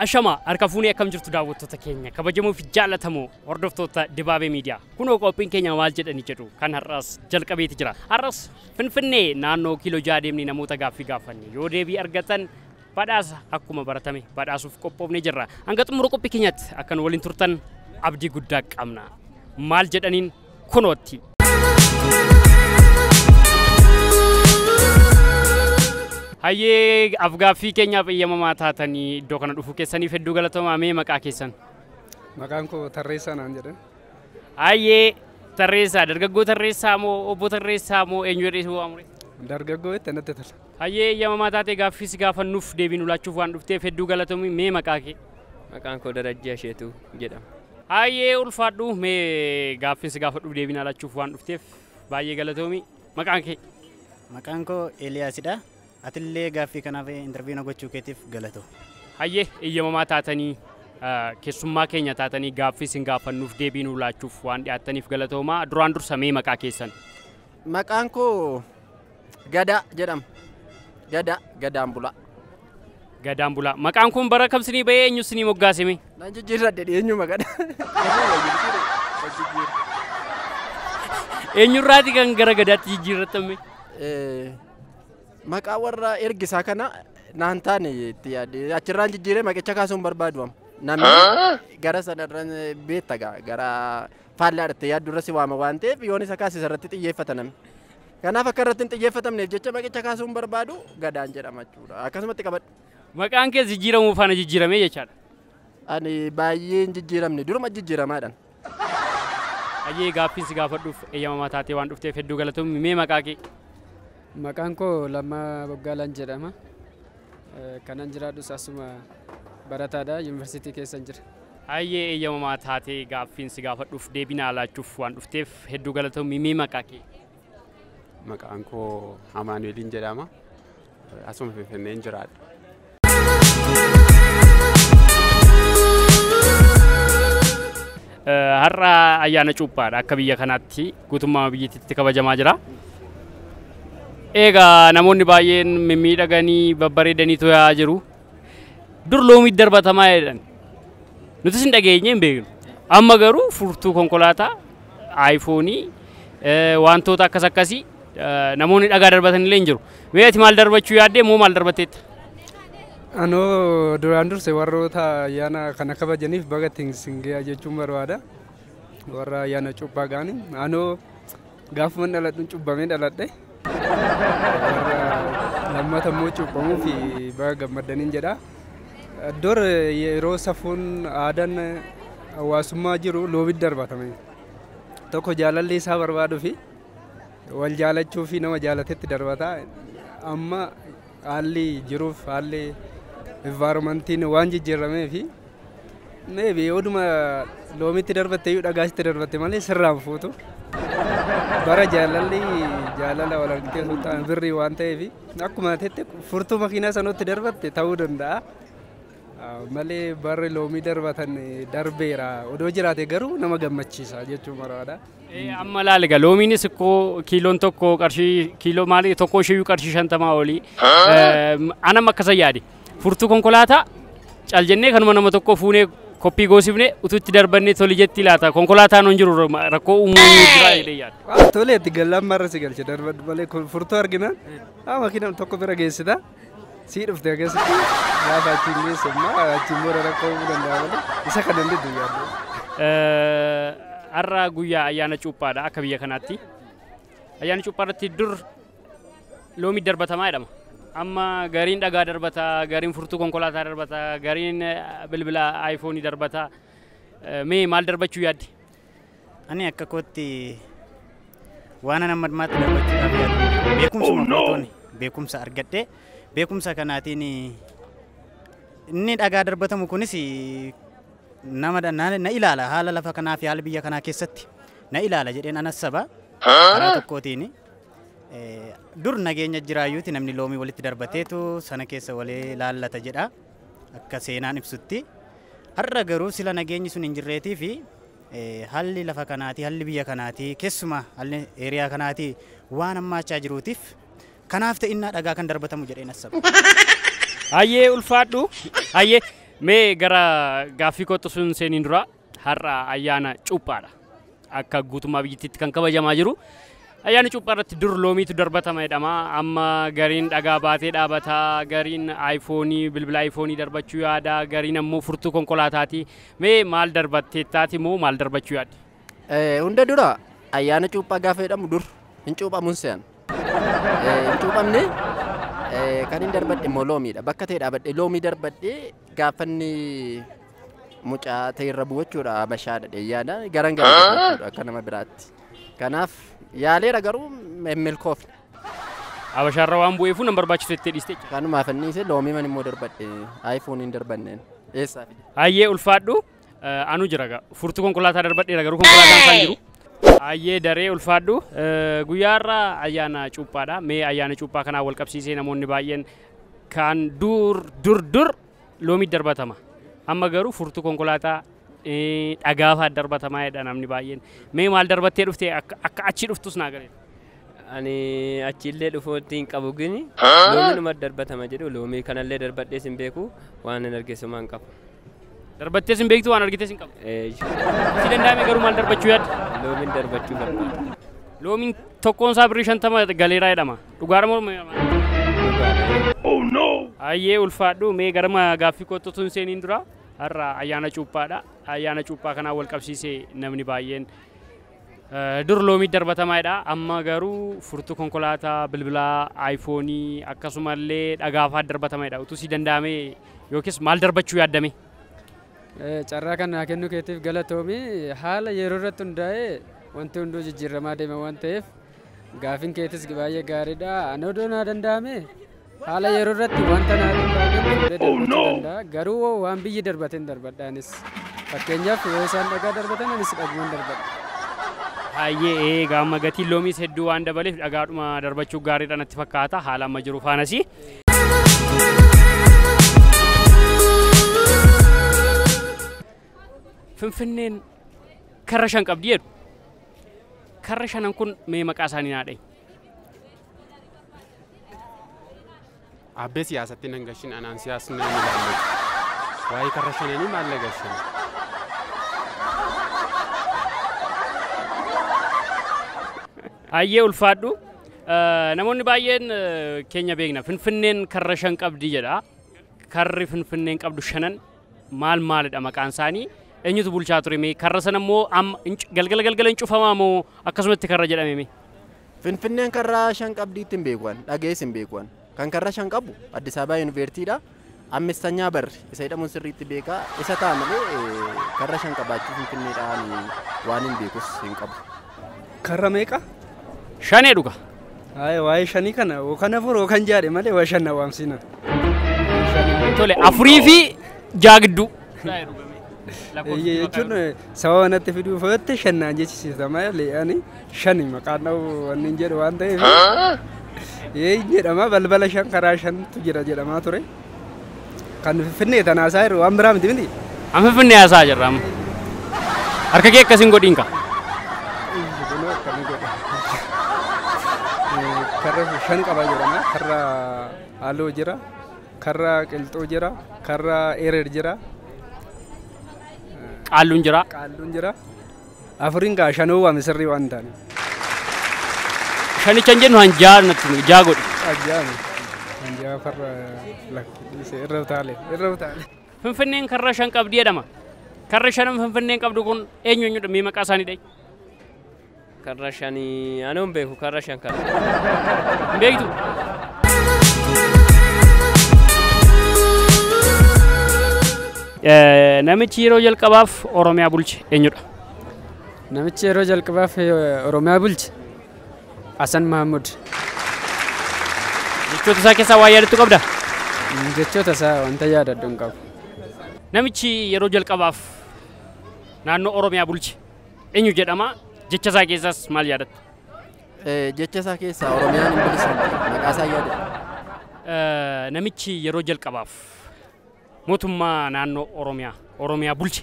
Ashama harka fuunee akkam jirtu daawwattoota keenya kabajamoo fi jaallatamoo hordoftoota Dibaabee Miidiyaa kunoo qophiin keenya maal jedhani jedhu kan har'as jalqabeeti jira. Har'as Finfinnee naannoo kiiloo jaha deemnee namoota gaaffii gaafanne yoo deebii argatan badhaasa akkuma baratame badhaasuuf qophoofnee jirra. Hanga xumura qophii keenyatti akkan waliin turtan abdii guddaa qabna. Maal jedhaniin kunootti. Hayyee afgaaffii keenyaaf eeyyamamaa taatanii iddoo kana dhufuu keessaniif hedduu galatoomaa mee maqaa keessan. Maqaan koo Tarreessaa naan jedhan. Hayyee tarreessaa dargaggoo tarreessaa moo obbo tarreessaa moo eenyu jedhee si waamu? Dargaggoo itti natti tola. Hayyee eeyyamamaa taatee gaaffii si gaafannuuf deebii nu laachuuf waan dhufteef hedduu galatoomi mee maqaa kee. Maqaan koo Darajjee Asheetuu jedhama. Hayyee ulfaadhu mee gaaffiin si gaafadhuuf deebii naa laachuuf waan dhufteef baay'ee galatoomi. Maqaan kee? Maqaan koo Eeliyaasidha. Atillee gaaffii kanaaf interviyuu na gochuu keetiif galatoo. Hayyee eeyyamamaa taatanii ah, keessummaa keenya taatanii gaaffii isin gaafannuuf deebii nuu laachuuf waan dhiyaattaniif galatoomaa. Duraan dursa mee maqaa keessan? Maqaan koo Gadaa jedhama. Gadaa, gadaan bulaa. Gadaan bulaa. Maqaan kun bara kam sinii bahee eenyu sinii moggaasime? Nan jijjiirradhe dhiyeenyuma gada. Eenyurraati kan gara gadaatti jijjiirrattame? Eh, Maqaa warra ergisaa kana naan taane itti yaade. Achirraan jijjiiree maqicha kaasuun barbaadu amma. Namni gara sanarran beetta gaa gara faallaa irratti yaaddu irra si waama waan ta'eef yoon isa kaasisa irratti xiyyeeffata namni. Kanaaf akka irratti hin xiyyeeffatamneef jecha maqicha kaasuun barbaadu gadaan jedhama jechuudha. Akkasumatti qabadhu. Maqaan kee jijjiiramuu faana jijjiiramee jechaadha. Ani baay'ee hin jijjiiramne duruma jijjiiramaadhaan. Hayyee gaaffiin si gaafadhuuf eeyyamamaa taatee waan dhufteef hedduu galatoomi mee maqaa kee. Maqaan koo Lammaa Boggaalaan jedhama. Kanan jiraadhus asuma barataadha yuunivarsiitii keessan jira. Hayyee eeyyamamaa taatee gaaffiin si gaafadhuuf deebii naa laachuuf waan dhufteef hedduu galatoomi mee maqaa kee? Maqaan koo Amaanu'eliin jedhama. Asuma Finfinneen jiraadha. Har'a ayyaana cuuphaadha akka biyya kanaatti guutummaa biyyattiitti kabajamaa jira. Egaa namoonni baay'een mimmiidhaganii babbareedanii tooyaa jiru. Dur loomiitti darbatamaa jedhan. Nutis hin dhageenye hin beeknu. Amma garuu furtuu konkolaataa, aayifoonii, eh, wantoota akkas akkasii eh, namoonni dhagaa darbatan illee hin jiru. Mee ati maal darbachuu yaaddee moo maal darbatteetta? Anoo duraan durse warroota ayyaana kana kabajaniif baga ittiin sin gahe jechuun barbaada. Warra ayyaana cubbaa gaanii anoo gaafuman dhaladhuun cubbamee dhaladhe. Warra lammata immoo cubbamuu fi baga gammaddaniin jedha. Dur yeroo safuun aadaan hawaasummaa jiru loobitti darbatame. Tokko jaalallee isaa barbaaduu fi wal jaalachuu fi nama jaalatetti darbata. Amma Haalli jiruuf haalli environmentiin waan jijjiirameef maybe oduma loomitti darbatte iyyuu dhagaa sitti darbatte malee sirraan fuutu. Bara jaalalli jaalala wal argitee sultaan birrii waan ta'eef akkuma teette furtuu makiinaa sanutti darbatte ta'uu danda'a. malee barri loomii darbatan darbeera odoo jiraate garuu nama gammachiisa jechuu maraadha. Amma laal egaa loomiinis ikkoo kiiloon tokko qarshii kiiloo maali tokko isheeyyuu qarshii shantamaa olii. Anam akkasa yaade furtuu konkolaataa cal jennee kanuma nama tokko fuunee koppii goosifne utuutti darbannee toli jetti laata konkolaataan hin jiru rakkoo uumuu jira jedhee yaada. Tolee itti gallaan marra si galche darbadhu malee furtuu arginaan makiinaan tokko bira geessita. Sii dhufte keessatti gaafa achiin geessu immoo achiin booda rakkoo uumuu danda'a malee isa kana hin diddu yaaddu. Har'a guyyaa ayyaana cuuphaadha akka biyya kanaatti. Ayyaana cuuphaa irratti dur loomii darbatamaa jedhama. Amma gariin dhagaa darbata, gariin furtuu konkolaataa darbata, gariin bilbila aayifoonii darbata. Mee maal darbachuu yaaddi? Ani akka kootti waanan amma ammaatti dubbachuudhaaf yaadu beekumsa makootoni beekumsa argadhe beekumsa kanaatiin inni dhagaa darbatamu kunis nama da- na na ilaala haala lafa kanaa fi haala biyya kanaa keessatti na ilaala jedheen anas saba karaa tokkootiin eh, dur nageenya jiraayyuuti namni loomii walitti darbateetu sana keessa walii laallata jedha. Akka seenaan ibsutti har'a garuu sila nageenyi sun hin jirreetii fi halli lafa kanaatii, halli biyya kanaatii, keessumaa halli eeriyaa kanaatii waan hammaachaa jiruutiif kanaaf ta'innaa dhagaa kan darbatamu jedheen assaba. Hayyee ulfaadhu. Hayyee mee gara gaaffii kootti sun seeniin dura Har'a ayyaana cuuphaadha. Akka guutummaa biyyittiitti kan kabajamaa jiru. Ayyaana cuuphaa irratti dur loomiitu darbatama jedhama. Amma gariin dhagaa baatee dhaabata, gariin aayifoonii, bilbila aayifoonii darbachuu yaada, gariin ammoo furtuu konkolaataati. Mee maal darbatteettaati moo maal darbachuu yaadde? Eh, Hunda dura ayyaana cuuphaa gaafa jedhamu dur hin cuuphamuun se'an. Eh, Hin cuuphamne eh, kan hin darbadhe immoo loomiidha. Bakka ta'e dhaabadhe loomii darbadhe Gaaffanni mucaa ta'e irra bu'u jechuudha abashaadha dheeyyaadha garan garan qabu jechuudha akka nama biraatti. Kanaaf yaaleera garuu hin milkoofne. Abashaarra waan bu'eefuu nan barbaachisu jettee dhiiste jechuudha. Kanumaaf anniise loomii man immoo darbadhe iPhone hin darbanneen eessaa fide. Hayyee ulfaadhu Anu jira gaa. Furtuu konkolaataa darbadheera garuu konkolaataan isaan jiru. Ayyee daree ulfaadhu. Guyyaa irraa ayyaana cuuphaadha. Mee ayyaana cuuphaa kanaa wal qabsiisee namoonni baay'een kan dur dur dur loomii darbatama. Amma garuu furtuu konkolaataa dhagaafaa darbatamaa jedha namni baay'een. Mee maal darbattee dhuftee akka achi dhuftus naa galee. Ani achiillee dhufuutti hin qabu gini loomiinuma darbatama jedhu loomii kanallee darbadhees hin beeku waan hin argeessumaan qabu. Darbattees hin beektu waan argitees hin qabdu. Si danda'ame garuu maal darbachuu yaadda? Loomiin darbachuu barbaada. Loomiin tokkoon isaa birrii shantama galeeraa jedhama. Dhugaadha moo morma? Ayyee ulfaadhu mee garma gaaffii kootti utuu hin seeniin dura har'a ayyaana cuuphaadha. Ayyaana cuuphaa kanaan wal qabsiisee namni baay'een eh, dur loomii darbatamaadha. Amma garuu furtuu konkolaataa, bilbilaa, aayifoonii akkasumallee dhagaafaa darbatamaadha. Utuu si danda'amee Yookiis maal darbachuu yaadda mee? Carraa kan naa kennuu keetiif galatoomi. Haala yeroo irratti hundaa'ee wanti hunduu jijjiirramaa deema waan ta'eef gaafin keetis baay'ee gaariidha. Ani odoo naa danda'ame haala yeroo irratti wanta naa danda'ame fuudhee darbachuu danda'a. Garuu hoo waan biyyi darbate hin darbadha anis. Fakkeenyaaf yoo isaan dhagaa darbatan anis dhaguman darbadha. Hayyee ee gaamma gatiin loomiis hedduu waan dabaleef dhagaadhuma darbachuu gaariidha natti fakkaata haala amma jiru faanasi. Finfinneen karra shan qabdi jedhu. Karra shanan kun mee maqaa isaanii naa dhahi. Abbee siyaasatti nan gashin anaan siyaasni nan ilaalle. Waa'ee karra shananii maal na gashin? Hayyee ulfaadhu. Namoonni baay'een keenya beekna. Finfinneen karra shan qabdi jedha. Karri Finfinneen qabdu shanan maal maalidha maqaan isaanii? Eenyutu bulchaa ture mee? Karra sana immoo amma hin cu- galgala galgala hin cufamaa moo akkasumatti karra jedhame mee? Finfinneen karraa shan qabdiitti hin beekuan dhagees hin beekuan. Kan karra shan qabu Addis Ababa Yuniveertiidha. Ammistanya barri isa jedhamuun sirriitti beeka. Isa ta'a malee karra shan qabaachuu Finfinneedhaan waan hin beekus hin qabu. Karra meeqa? Shanee dhuga. Haaya waa'ee shanii kana yookaan afur yookaan jaadhe malee waa shan na waamsiina. Tole afurii fi jaa gidduu. Eeyyee jechuun sababa natti fiduu fooyyatti shan naan jechisiisa malee ani shani maqaan dha'u wanni hin jedhu waan ta'eef ee hin jedhama balbala shan karaa shantu jira jedhamaa ture kan finfinnee tanaa isaa jiru waan biraa miti miti An finfinnee haasaa jirra amma. Harka kee akkasiin godhiin kaa. Kunoo akkami godha. Eh, karra shan qaba jedhama karra halluu jira Karra Qilxuu jira. Karra Erer jira. Qaalluun jira. Qaalluun jira. Afuriin kaa shanuu waame sirrii waan taane. Shanicha hin jennu hanjaa natti himi, jaa godhi. Ajjaani. Hanjaa farra lakkoofsiise irra utaale. Irra utaale. Finfinneen karra shan qabdi jedhama. Karri shanan Finfinneen qabdu kun eenyu eenyudha? Mee maqaa isaanii dha'i. Karra shani anoo hin beeku karra shan kana. Hin beektu? Eh, Namichi yeroo jalqabaaf Oromiyaa bulche eenyudha? Namichi yeroo jalqabaaf eh, Oromiyaa bulche Hasan Mahammud Jechoota isaa keessaa waa yaadattu qabda? Mm, jechoota isaa wanta yaadadhu hin qabu. Namichi yeroo jalqabaaf naannoo Oromiyaa bulche Eenyu jedhama? Jecha isaa keessaas maal yaadatta? Jecha isaa keessaa Oromiyaan hin bilisoomne maqaa isaa yaadadha. Eh, Namichi yeroo jalqabaaf mootummaa naannoo Oromiyaa Oromiyaa bulche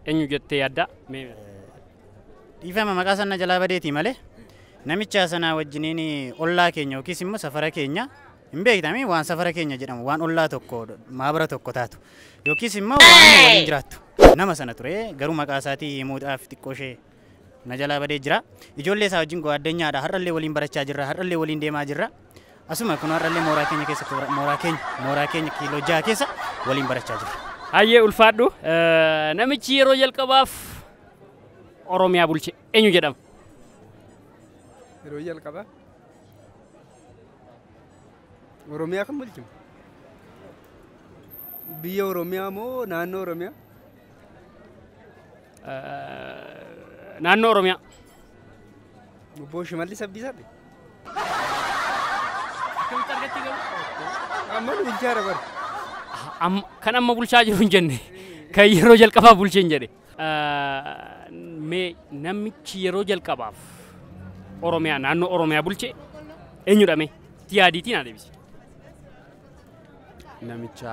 eenyu jettee yaadda? Mee Dhiifama maqaa sana jalaa badeetii malee namicha sanaa wajjiniin ollaa keenya yookiis immoo safara keenya Hin beektami waan safara keenya jedhamu waan ollaa tokko maabara tokko taatu yookiis immoo waan inni waliin jiraattu nama sana ture garuu maqaa isaatii himuudhaaf xiqqoo ishee na jalaa badee jira ijoollee isaa wajjin go'aaddanyaadha har'allee waliin barachaa jirra har'allee waliin deemaa jirra asuma kun har'allee mooraa keenya keessa toora- mooraa keenya mooraa keenya kiiloo jaha keessa waliin barachaa jirra. Hayyee ulfaadhu. Eh, Namichi yeroo jalqabaaf Oromiyaa bulche eenyu jedhama? Yeroo jalqabaa Oromiyaa kan bulchu biyya Oromiyaa moo naannoo Oromiyaa? Naannoo Oromiyaa. Obbo Shimallis Abdiisaati. Akkamitti argatti garuu? Amma nu bulchaa jira bara. Amma- Kan amma bulchaa jiru hin jenne. Kan yeroo jalqabaa bulche hin jedhe. Me namichi yeroo jalqabaaf Oromiyaa naannoo Oromiyaa bulche eenyudha mee? Tiyaadiitiin haa deebisi. Namicha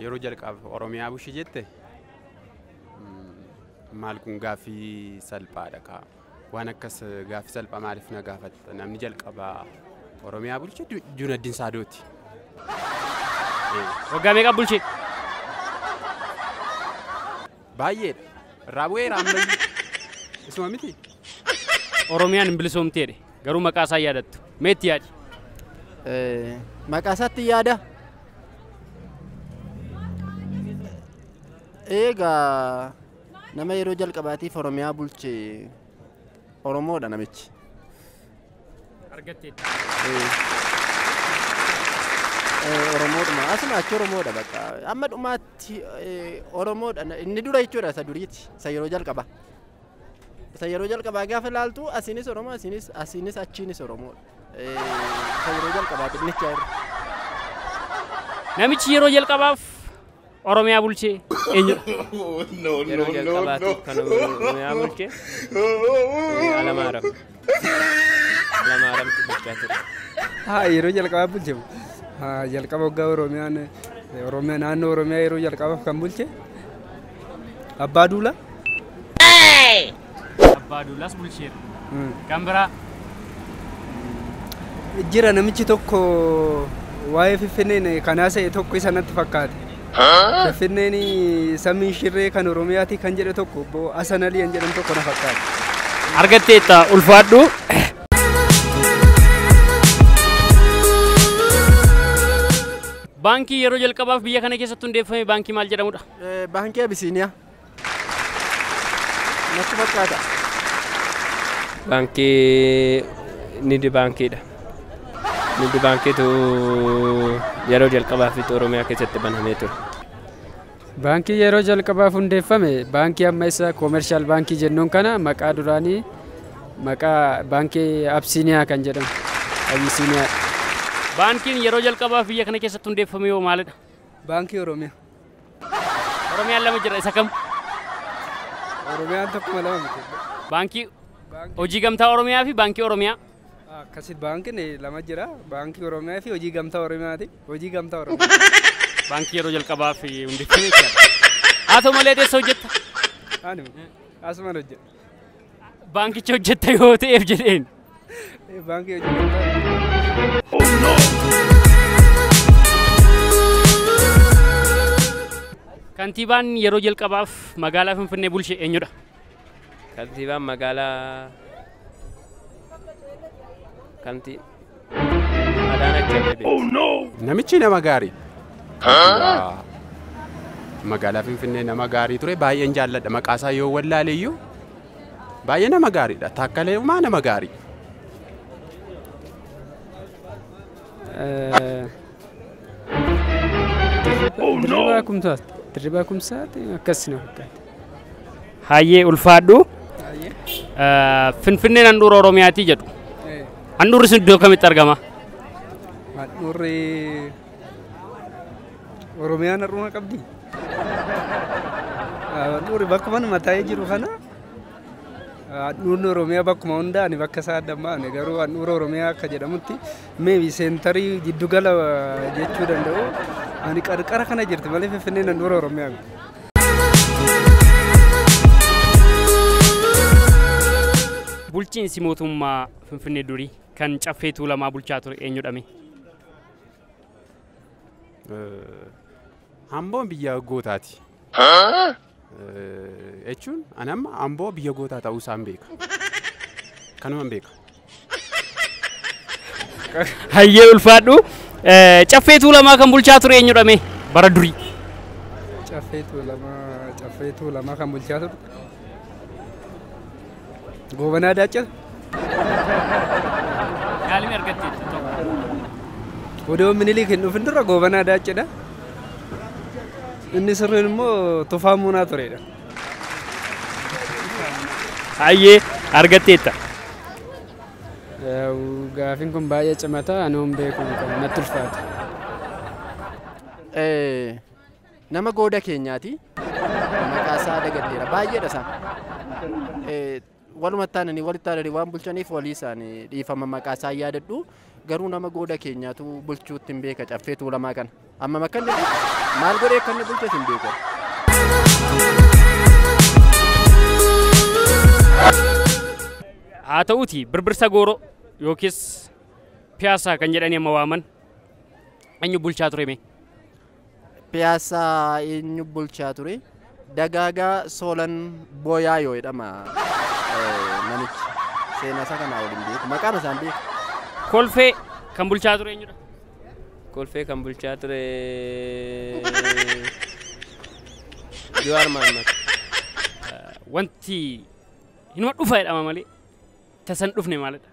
yeroo jalqabaaf Oromiyaa bulche jette maal kun gaaffii salphaadha kaa. Waan akkas gaaffii salphaa maaliif na gaafatta? Namni jalqabaa Oromiyaa bulche Junaddin Saadooti. Waggaa meeqa bulche? Baay'eedha. Irraa bu'eera ammayyuu. Isuma miti? Oromiyaan hin bilisoomti jedhe. Garuu maqaa isaa yaadattu. Mee itti yaadi. Maqaa isaatti yaada. Eegaa nama yeroo jalqabaatiif Oromiyaa bulche Oromoodha namichi. argatteetta. Oromoodhuma asuma achi Oromoodha bakka amma dhumaatti Oromoodha inni dura jechuudha isa duriiti isa yeroo jalqaba isa yeroo jalqabaa gaafa ilaaltu asiinis Oromoo asiinis asiinis achiinis Oromoodha isa yeroo jalqabaati inni achi Namichi yeroo jalqabaaf Oromiyaa bulche eenyudha? Yeroo jalqabaatiif kan Oromiyaa bulche eh, Alamaaram. Alamaaramtu bulchaa ture. Haa yeroo jalqabaaf bulche haa jalqaba waggaa Oromiyaan eh, Oromiyaa naannoo Oromiyaa yeroo jalqabaaf kan bulche Abbaa Duulaa. Abbaa Duulaas bulcheera. Kan biraa Jira namichi tokko waa'ee Finfinneen kan haasa'e tokko isa natti fakkaate. Finfinneen samii shirree kan Oromiyaati kan jedhe tokko obbo Hasan Alii kan jedhan tokko na fakkaate. argatteetta ulfaadhu. Baankii yeroo jalqabaaf biyya kana keessatti hundeeffame baankii maal jedhamudha? Baankii Abisiiniyaa. natti fakkaata. Baankii Nidi Baankiidha. Nidi Baankiitu yeroo jalqabaafitti Oromiyaa keessatti banamee ture. Baankii yeroo jalqabaaf hundeeffame baankii amma isa koomershaal baankii jennuun kana maqaa duraanii maqaa baankii Absiiniyaa kan jedhamu. Abisiiniyaa. Baankiin yeroo jalqabaaf biyya kana keessatti hundeeffame yoo maalidha? Baankii Oromiyaa. Oromiyaan lama jira isa kam? Oromiyaan tokkuma lama miti. Baankii hojii gamtaa Oromiyaa fi baankii Oromiyaa. Akkasi baankiin lama jira. Baankii Oromiyaa fi hojii gamtaa Oromiyaati. Hojii gamtaa Oromiyaa. Baankii yeroo jalqabaa fi hundeeffame jechuudha. Haa ta'u malee adeessa hojjetta. Ani asuman hojjedha. Baankicha hojjetta yoo ta'eef jedheen. Baankii Kantiibaan yeroo jalqabaaf magaalaa Finfinnee bulche eenyudha? Kantiibaan magaalaa kantii Adaanach Abeebee. Namichi nama gaarii. Kantiibaa Magaalaa Finfinnee nama gaarii ture baay'een jaalladha maqaasaa yoo wallaale iyyuu baay'ee nama gaariidha taakkalee umaa nama gaarii. Dirribaa kumsaati. Dirribaa kumsaati akkas na fakkaata. Hayyee ulfaadhu. Eh, Finfinneen handhuura Oromiyaati jedhu. Eh, Handhuurri sun iddoo kamitti argama? Handhuurri Oromiyaan har'uma qabdi. Ah, Handhuurri bakkuma nama taa'ee jiru kana ah, handhuurri Oromiyaa bakkuma hundaa ani bakka isaa adda hin baafne garuu handhuura Oromiyaa akka jedhamutti meebi seentarii jiddugala ah, jechuu danda'u ani qarqara kana jirti malee Finfinneen handhuura Oromiyaa miti. Bulchiinsi mootummaa Finfinnee durii kan caffee tuulamaa bulchaa ture eenyudhame? Amboon biyya gootaati. Jechuun ani amma amboo biyya gootaa ta'uu isaan beeka. Kanuman beeka. Hayyee ulfaadhu. Eh, Caffee Tuulamaa kan bulchaa ture eenyudha mee? Bara durii. Caffee Tuulamaa Caffee Tuulamaa kan bulchaa ture. Goobanaa Daachaa. Yaalimi argatte Odoo Minilik hin dhufin dura Goobanaa Daachaa. Inni sirriin immoo Tufaa Muunaa turedha. Hayyee argatteetta. Gaafin kun baay'ee cimata anuun beeku natti ulfaata. Nama gooda keenyaati. Maqaa isaa dagadheera. Baay'eedha isaa. Walumatti aananii walitti aananii waan bulchaniif walii isaanii dhiifama maqaa isaan yaadadhu. Garuu nama gooda keenyaatu bulchuutti hin beeka caffee tuulamaa kana. Amma makkan jedhu maal godhee akka inni bulches hin beeku. Haa ta'uuti birbirsa gooroo yookiis piyaasaa kan jedhanii amma waaman eenyu bulchaa ture mee? Piyaassaa eenyu bulchaa ture? Dagaagaa Soolan Booyaayoo jedhama namichi. Seenaa isaa kanaa waliin beeku. Maqaan isaan beeku. Kolfee kan bulchaa ture eenyudha? Kolfee kan bulchaa ture Jawaar Mahaammad. Wanti hinuma dhufa jedhama malee Tasa hin dhufne maalidha?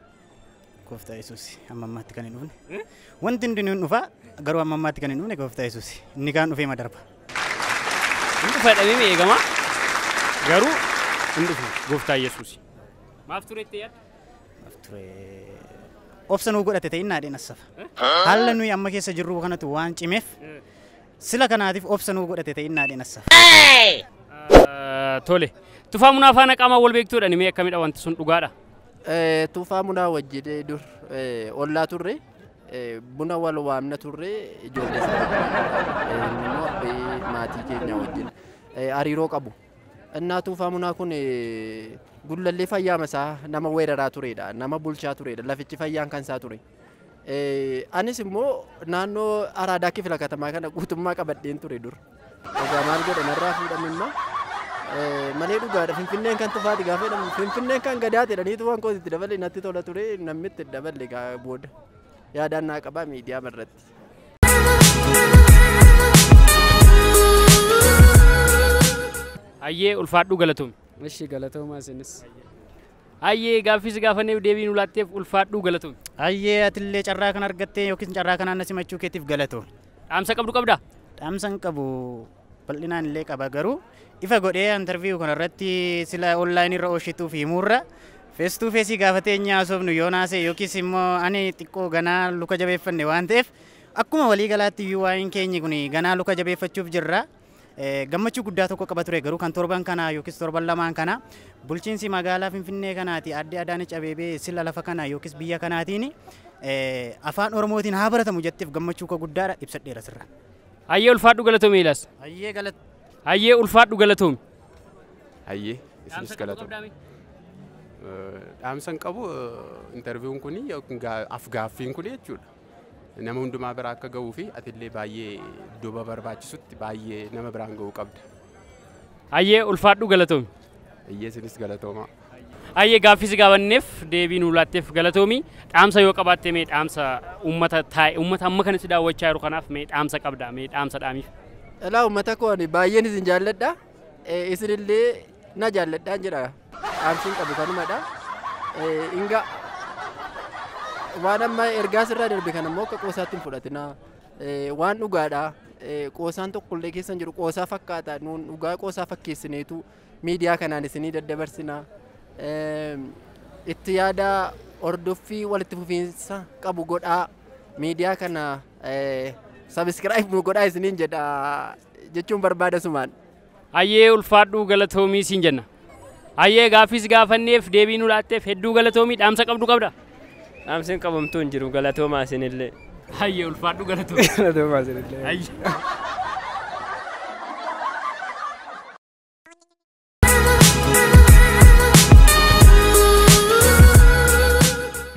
Gooftaa Yesuus amma ammaatti kan hin dhufne. Wanti hundi ni dhufa garuu amma ammaatti kan hin dhufne Gooftaa Yesuus inni kaan dhufee ma darba. Hin dhufa jedhamee mi eegama? Garuu hin dhufne gooftaa Yesuus. Maaf turetti yaadda? Maaf ture. Obsa nuu godhate ta'in naadheen assafa. Haala nuyi amma keessa jirru kanatu waan cimeef Sila kanaatif obsa nuu godhate ta'in naa dhenassa. Tole. Tufaa munaa faana qaamaan wal beektuudhani mee akkamidha wanti sun dhugaadha? Tufaa munaa wajjin dur ollaa turre buna wal waamna turre ijoollee maatii keenya wajjin hariiroo qabu. Innaa tufaa munaa kun gullallee fayyaama isaa nama weeraraa turedha. Nama bulchaa turedha. Lafichi fayyaan kan isaa ture. Anis immoo naannoo Araadaa kifila katamaa kana guutummaa qabadheen ture dur. Egaa maal godhe narraa fuudhan immoo malee dhugaadha Finfinneen kan tufaati gaafa jedhamu Finfinneen kan gadaati jedhaniitu waan kooti itti dabalee natti tola ture namni itti daballe egaa booda yaadaan naa qabaa miidiyaa irratti. Hayyee ulfaadhuu galatoomi. Ishi galatoomaa isinis. Hayyee gaaffii si gaafanneef deebii nu laatteef ulfaadhuu galatoomi. Hayyee atillee carraa kana argattee yookiin carraa kanaan na simachuu keetiif galatoomi. Dhaamsa qabdu qabdaa? Dhaamsa hin qabu bal'inaan illee qaba garuu ifa godhee interview kana irratti sila online irra oshituuf himuurra face to face gaafatee inni haasofnu yoo naasee yookiis immoo ani xiqqoo ganaa luka jabeeffanne waan ta'eef akkuma walii galaatti iyyuu waa'een keenyi kun ganaa luka jabeeffachuuf jirra. gammachuu guddaa tokko qaba ture garuu kan torban kanaa yookiis torban lamaan kana bulchiinsi magaalaa Finfinnee kanaati adde Adaanech Abeebee sila lafa kana yookiis biyya kanaatiin afaan Oromootiin haa baratamu jetteef gammachuu koo guddaadha ibsadheera sirra. Hayyee ulfaadhu galatoomi Eelaas. Hayyee galat. Hayyee ulfaadhu galatoomi. Hayyee isinis galatoomi. Dhaamsan qabu interviiwuun kun afgaaffiin kun jechuudha. Nama hundumaa bira akka ga'uu fi atillee baay'ee duuba barbaachisutti baay'ee nama biraan ga'uu qabda. Hayyee ulfaadhu galatoomi. Hayyee isinis galatoomaa. Hayyee gaaffii si gaafanneef deebii nuu laatteef galatoomi. Dhaamsa yoo qabaatte mee dhaamsa uummata taa'e uummata amma kana si daawwachaa jiru kanaaf mee dhaamsa qabda mee dhaamsa dhaamiif. Dhalaa uummata koo ani baay'een isin jaalladha. Isinillee na jaalladhaan jedha. dhaamsiin qabu kanumadha. Inga waan amma ergaa sirraa darbe kana immoo akka qoosaatti hin fudhatina. Waan dhugaadha. Qoosaan tokkollee keessa hin jiru. Qoosaa fakkaata. Nuun dhugaa qoosaa fakkeessineetu miidiyaa kanaan isinii daddabarsina. Itti yaada hordoffii walitti fufiinsa qabu godhaa. Miidiyaa kana sabiskiraayib nu godhaa isiniin jedha jechuun barbaada sumaan. Hayyee ulfaadhuu galatoomii siin jenna. Hayyee gaaffiis gaafanneef deebii nu laatteef hedduu galatoomii dhaamsa qabdu qabda? Dhaamsiin qabamtuu hin jiru galatoomaa isinillee. Hayyee ulfaadhuu galatoomii. Galatoomaa isinillee. Hayyee.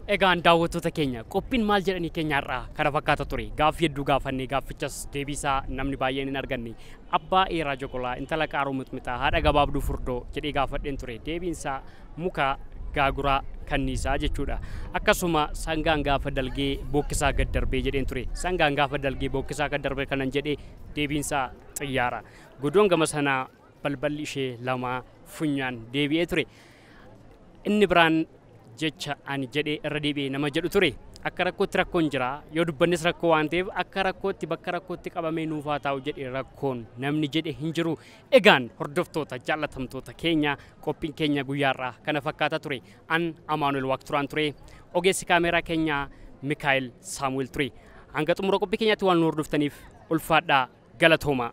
Egaan daawwattoota keenya qophiin maal jedhanii keenyaarraa kana fakkaata ture gaaffii hedduu gaafannee gaaffichas deebiisaa namni baay'een hin arganne Abbaa Eeraa Joqolaa, Intala Qaaruu Mixmixaa, Haadha Gabaabduu Furdoo jedhee gaafadheen ture. Deebiin isaa Mukaa, Gaaguraa, Kanniisaa jechuudha. Akkasuma Sangaan gaafa dalgee bookkisaa gad darbee jedheen ture. Sangaan gaafa dalgee bookkisaa gad darbe kanan jedhe deebiin isaa Xiyyaara. Godoon gama sanaa balballi ishee lamaa funyaan deebi'ee ture. Inni biraan jecha ani jedhe irra deebi'e nama jedhu ture. Akka rakkootti rakkoon jira. Yoo dubbannes rakkoo waan ta'eef akka rakkootti bakka rakkootti qabamee nuuf haa taa'u jedhe rakkoon namni jedhe hin jiru. Egaan hordoftoota jaallatamtoota keenya qophiin keenya guyyaarraa kana fakkaata ture. An Amaanuel Waaqturaan ture. Ogeessi kaameeraa keenya Mikaa'el Saamu'el ture. Hanga xumura qophii keenyaatti waan nu hordoftaniif ulfaadhaa. galatoomaa.